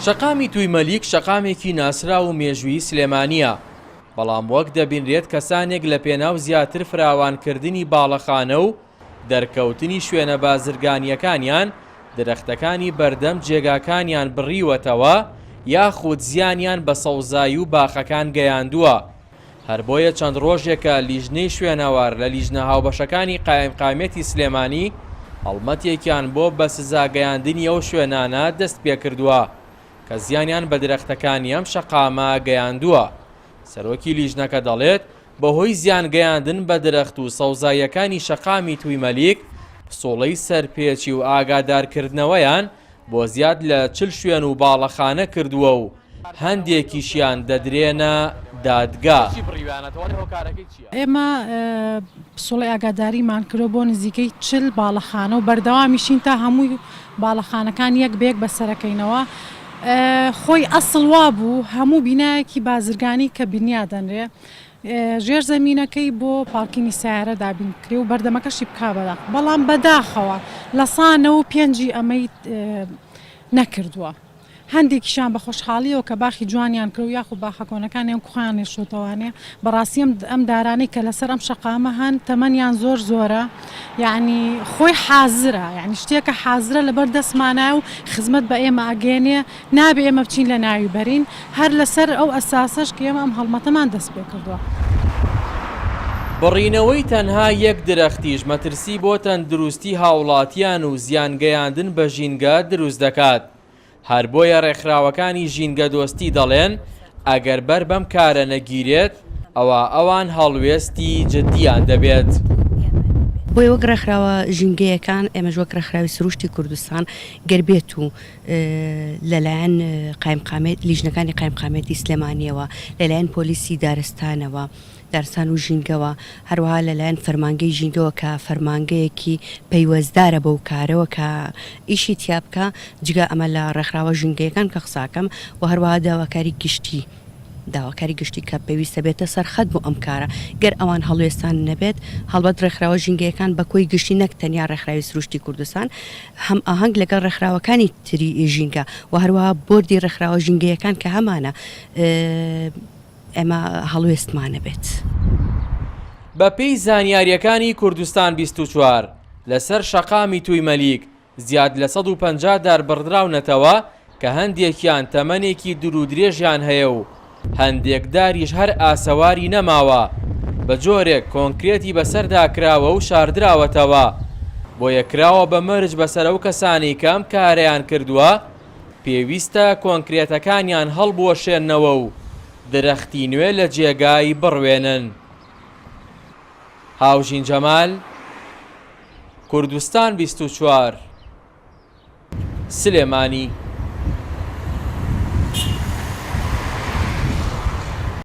شەقامی تووی مەلیک شەقامێکی ناسراو و مێژوویی سلێمانییە، بەڵام وەک دەبینرێت کەسانێک لە پێناو زیاتر فراوانکردنی باڵەخانە و دەرکەوتنی شوێنە بازرگانییەکانیان درەختەکانی بەردەم جێگاکانیان بڕیوەتەوە یاخود زیانیان بە سەوزایی و باخەکان گەیاندووە. هەر بۆیە چەند ڕۆژێکە لیژنەی شوێنەوار لە لیژنە هاوبەشەکانی قائیمقامیەتی سلێمانی هەڵمەتێکیان بۆ بە سزا گەیاندنی ئەو شوێنانە دەست پێکردووە کە زیانیان بە درەختەکانی ئەم شەقامە گەیاندووە سەرۆکی لیژنەکە دەڵێت بەهۆی زیان گەیاندن بە درەخت و سەوزاییەکانی شەقامی توی مەلیک پسوڵەی سەرپێچی و ئاگادارکردنەوەیان بۆ زیاد لە چل شوێن و باڵەخانە کردووە و هەندێکیشیان دەدرێنە دادگا. ئێمە پسوڵەی ئاگاداریمان کرۆ بۆ نزیکەی چل باڵەخانە و بەردەوامیشین تا هەمووی باڵەخانەکان یەک بەیەک بەسەرەکەینەوە خۆی ئەسڵ وابوو هەموو بینایەکی بازرگانی کە بینیا دەنرێ ژێر زەمینەکەی بۆ پاڵکینی سیارە دابین کرێ و بەردەمەکەشی بکا بەدا بەڵام بەداخەوە لە سانە و پێنجی ئەمەی نەکردووە. هەندێکیشیان بە خۆشحاڵییەوە کە باخی جوانیان کرد و یاخو باخە کۆنەکانیان کوخایان لێ شۆتەوانێ. بەڕاستی ئەم ئەم دارانەی کە لەسەر ئەم شەقامە هەن تەمەنیان زۆر زۆرە. یەعنی خۆی حازرە. یەعنی شتێکە حازرە لەبەر دەستمانایە و خزمەت بە ئێمە ئەگەیەنێ. نابێ ئێمە بچین لە ناوی بەرین. هەر لەسەر ئەو ئەساسەش کە ئێمە ئەم هەڵمەتەمان دەستپێکردووە. بڕینەوەی تەنها یەک درەختیش مەترسی بۆ تەندروستی هاوڵاتیان و زیان گەیاندن بە ژینگە دروست دەکات، هەر بۆیە رێکخراوەکانی ژینگە دۆستی دەڵێن ئەگەر بەر بەم کارە نەگیرێت ئەوا ئەوان هەڵوێستی جدیان دەبێت. بۆیە وەک رێکخراوە ژینگەیەکان، ئێمەش وەک رێکخراوی سروشتی کوردستان گەر بێتو، لەلایەن قایمقامیەتی لیژنەکانی قایمقامیەتی سلێمانیەوە، لەلایەن پۆلیسی دارستانەوە، دارستان و ژینگەوە، هەروەها لەلایەن فەرمانگەی ژینگەوە کە فەرمانگەیەکی پەیوەستدارە بەو کارەوە کە ئیشی تیابکا، جگە ئەمە لە ڕێکخراوە ژینگەیەکان کە قساکەم و هەروەها داواکاری گشتی. داواکاری گشتی کە پێویستە بێتە سەرخەت بۆ ئەم کارە، گەر ئەوان هەڵوێستان نەبێت، هەڵبەت ڕێکخراوە ژینگەیەکان بە کۆی گشتی نەک تەنیا ڕێکخراوی سروشتی کوردستان، هەمئاهەنگ لەگەڵ ڕێکخراوەکانی تری ژینگە و هەروەها بۆردی ڕێکخراوە ژینگەیەکان کە هەمانە، ئێمە هەڵوێستمانە بێت. بەپێی زانیارییەکانی کوردستان بیست و چوار، لەسەر شەقامی تووی مەلیک زیاد لە سەد و پەنجا دار بڕدراونەتەوە کە هەندێکیان تەمەنێکی دوور و درێژیان هەیە و هەندێک داریش هەر ئاسەواری نەماوە بە جۆرێک کۆنکرێتی بەسەردا کراوە و شاردراوەتەوە بۆیە کراوە بە مەرج بەسەر ئەو کەسانەی کە ئەم کارەیان کردووە پێویستە کۆنکرێتەکانیان هەڵبوەشێنەوە و درەختی نوێ لە جێگای بڕوێنن. هاوژین جەمال. کوردستان بیست و چوار سلێمانی.